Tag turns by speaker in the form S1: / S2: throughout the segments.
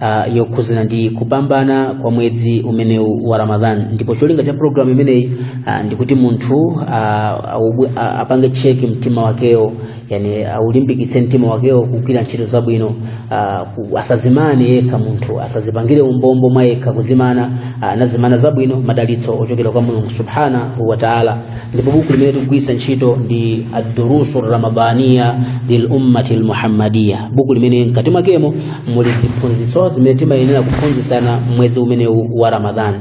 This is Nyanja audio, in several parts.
S1: uh, yokhuzana ndi kupambana kwa mwezi umenewu wa ramadhan ndipo cholinga cha programu imeneyi uh, ndikuti munthu uh, a- apange cheki mtima wakewo yani aulimbikitse mtima wakewo kugwira ntchito zabwino uh, ku- asazimane yekha munthu asazipangire umbombo mwa yekha kuzimana uh, nazimana zabwino madalitso ochokera kwa mulungu subhanahu wa taala ndipo buku limene tikugwiritsa ntchito ndi adurusu ramadaniya lil ummati lmuhammadiya buku limene mkati mwakemo muli ziphunzitso zimene timayenera kuphunzitsana mmwezi umenewu wa ramadhani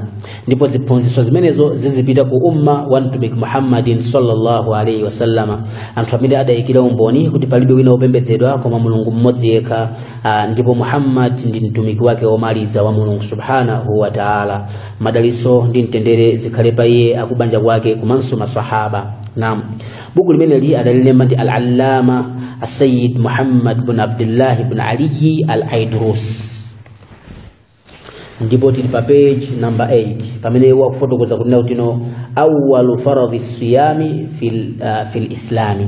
S1: ndipo ziphunzitso zimenezo zizipita ku umma wa mtumiki muhammadin sallallahu alaihi wasallama anthu amene adayikira umboni kuti palibe wina wopembedzedwa koma mulungu mmodzi yekha ah, ndipo muhammad ndi mtumiki wake womaliza wa mulungu subhanahu wa taala madaliso ndi mtendere zikhale pa iye akubanja kwake komanso maswahaba naam buku limeneli adalilemba ndi al-allama asayid muhammad bun abdullah bun aliyi al-aidrus ndipo tili pa page number 8 pamene iwo akufotokoza kunena kuti no awalu faradhi siyami fil, uh, fil islami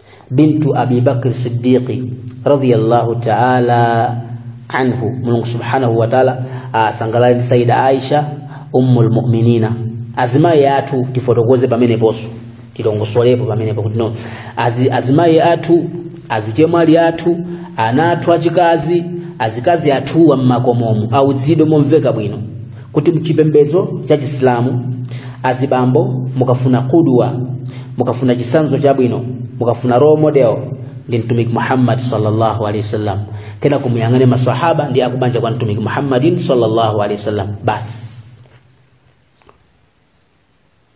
S1: bintu abi bakr siddiqi radiyallahu ta'ala anhu mulungu subhanahu wa ta'ala asangalale ndi sayida aisha ummul mu'minina azimayi athu tifotokoze pameneponso tilongosolepo pamenepo kuti no Azi, azimayi athu azichemwali athu ana athu achikazi azikazi athuwa mmakomomu auzidwe momveka bwino kuti mchipembedzo cha chisilamu azibambo mukafuna qudwa mukafuna chisanzo chabwino mukafuna role model ndi mtumiki muhammad sallallahu alaihi wasallam kena kumuyang'ane masahaba ndi akubanja kwa mtumiki muhammadin sallallahu alaihi wasallam basi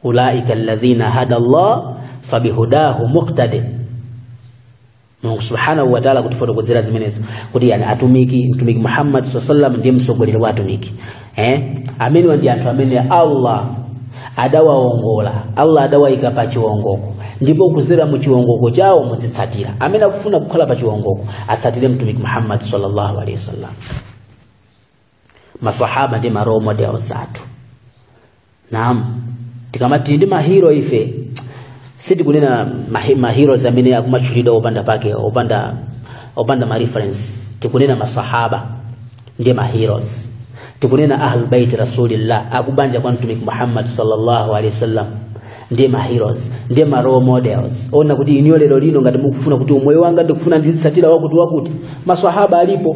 S1: ulaika alladhina hada Allah fabihudahu muqtadi Mulungu subhanahu wa ta'ala kutifotokozera zimenezo kuti yani atumiki mtumiki Muhammad sallallahu alaihi wasallam ndiye msogoleri wa atumiki amenewa ndi anthu amene Allah adawaongola Allah adawaika pa chiwongoko ndipo kuzera mu chiwongoko chawo muzitsatira amene akufuna kukhala pa chiwongoko atsatire mtumiki Muhammad sallallahu alaihi wasallam masahaba ndi ma role models athu naam tikamati ndi mahiro ife sitikunena mahi- maheroes amene akumatchulidwa opanda pake opanda opanda ma reference tikunena masahaba ndi maheroes tikunena ahlul bait rasulillah akubanja kwa mtumiki muhammad sallallahu alaihi wasallam ndi maheroes ndi ma role models ona kuti iniyo lero lino ngati ukufuna kuti umoyo wanga ndikufuna ndizitsatira wakuti wakuti masahaba alipo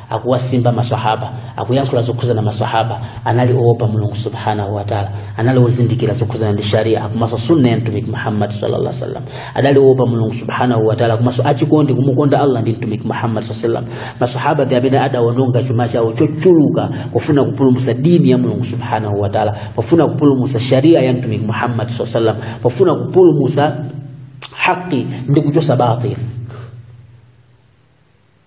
S1: akuwasimba maswahaba akuyankhula zokhuza maswahaba anali oopa mulungu subhanahu wataala anali ozindikira zokhuzana ndi sharia komanso sunna ya mtumiki muhammadi sallallahu alaihi wasallam adali oopa mulungu subhanahu wataala komanso achikondi kumukonda allah ndi mtumiki muhammadi saa sallam maswahaba ndi amene adawononga chuma chawo chochuluka pofuna kupulumutsa dini ya mulungu subhanahu wataala pofuna kupulumutsa sharia ya mtumiki muhammadi saa sallam pofuna kupulumutsa haqi ndi kuchosa batili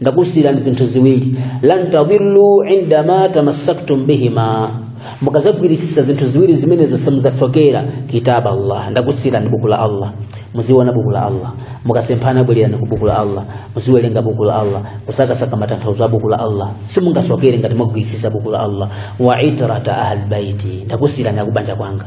S1: ndakusiyirani zinthu ziwiri lan tadhillu indama tamassaktum bihima mukazagwirisisa zinthu ziwiri zimenezo simuzasokera kitaba allah ndakusiyirani buku la allah muziona buku la allah mukasemphana bwererani ku buku la allah muziwerenga buku la allah kusakasaka matanthauzo a buku la allah simungasokere ngati mwagwirisisa buku la allah wa itrata ahlbaiti ndakusiyirani akubanja kwanga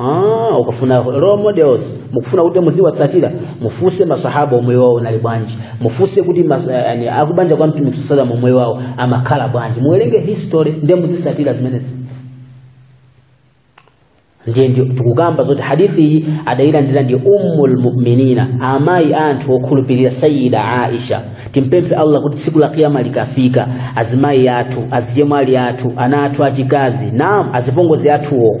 S1: Ah, ukafuna role models mukufuna kuti muziwatsatira mufuse masahaba umoyo wawo unali bwanji mufuse kuti mas, eh, yani, akubanja kwa mtumiki sallam umoyo wawo amakhala bwanji muwerenge history ndiye muzitsatira zimenezi ndiye nde tikukamba zoti hadithi iyi adayilandira ndi ummul mu'minina amayi a anthu okhulupirira sayida aisha timpemphe allah kuti tsiku la kiyama likafika azimayi athu azichemwali athu ana athu achikazi naam azipongozi athuwo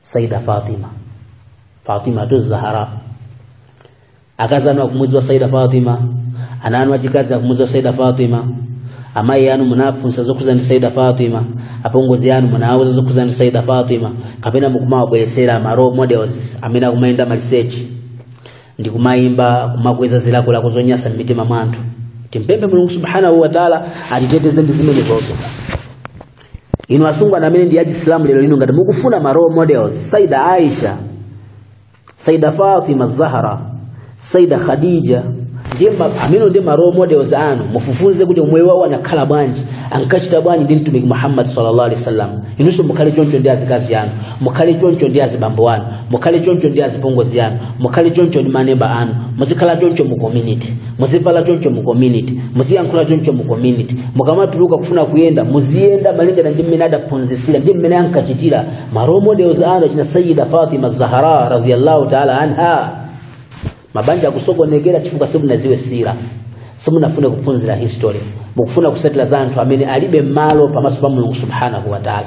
S1: saida fatima fatima tu zahara akazi anu akumuziwa saida fatima ana anu achikazi akumuziwa saida fatima amayi anu munaphunzitsa zokhuza ndi saida fatima apongozi anu munawuza zokhuza ndi saida fatima kapena mukumawabweretsera ma role models amene akumayenda maliseche ndi kumayimba kumakweza zilakolako zonyasa m'mitima mwa anthu timpemphe mulungu subhanahu wataala atiteteze ndi zimenezozo inu asungwana amene ndi achisilamu lero lino ngati mukufuna ma role models saida aisha saida fatima zahra saida khadija ndiye ma- amene ndi ma role models anu mufufuze kuti moyo wawo anakhala bwanji ankachita bwanji ndi mtumiki muhammad sallallahu alaihi wasallam inunso mukhale choncho ndi azikazi anu mukhale choncho ndi azibambo anu mukhale choncho ndi azipongozi anu mukhale choncho ndi maneba anu muzikhala choncho mu community muzivala choncho mu community muziyankhula choncho mu community mukamatuluka kufuna kuyenda muziyenda malingana ndi mmene adaphunzitsira ndi mmene ankachitira ma role models anu achina sayida fatima zahara radhiyallahu taala anha mabanja akusokonekera chifukwa simunaziwe sira simunafune kuphunzira history mukufuna kusatira za anthu amene alibe malo pamaso pa mulungu subhanahu wa taala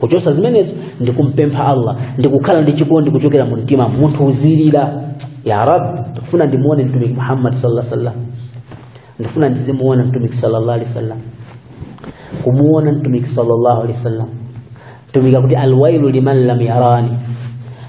S1: kuchosa zimenezo ndi kumpempha Allah ndi kukhala ndi chikondi kuchokera mu mtima munthu uzilira ya rabbi ndikufuna ndimuone mtumiki Muhammad sallallahu alaihi wasallam ndikufuna ndizimuona mtumiki sallallahu alaihi wasallam kumuona mtumiki sallallahu alaihi wasallam mtumiki akuti alwailu liman lam yarani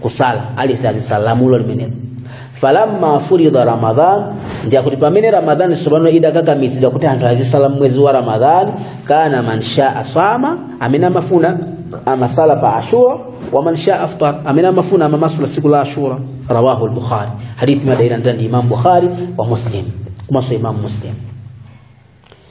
S1: kusala ali azisala lamulo limeneli falamma furida ramadan nde akuti pamene ramadhani tsopano idakakamizidwa kuti anthu azisala mwezi wa ramadhani kana man shaa sama amene amafuna amasala pa ashura wa man shaa aftar amene amafuna amamasula siku la ashura rawahu al-bukhari hadithi anaitola ndani imam bukhari wa muslim kumaso imam muslim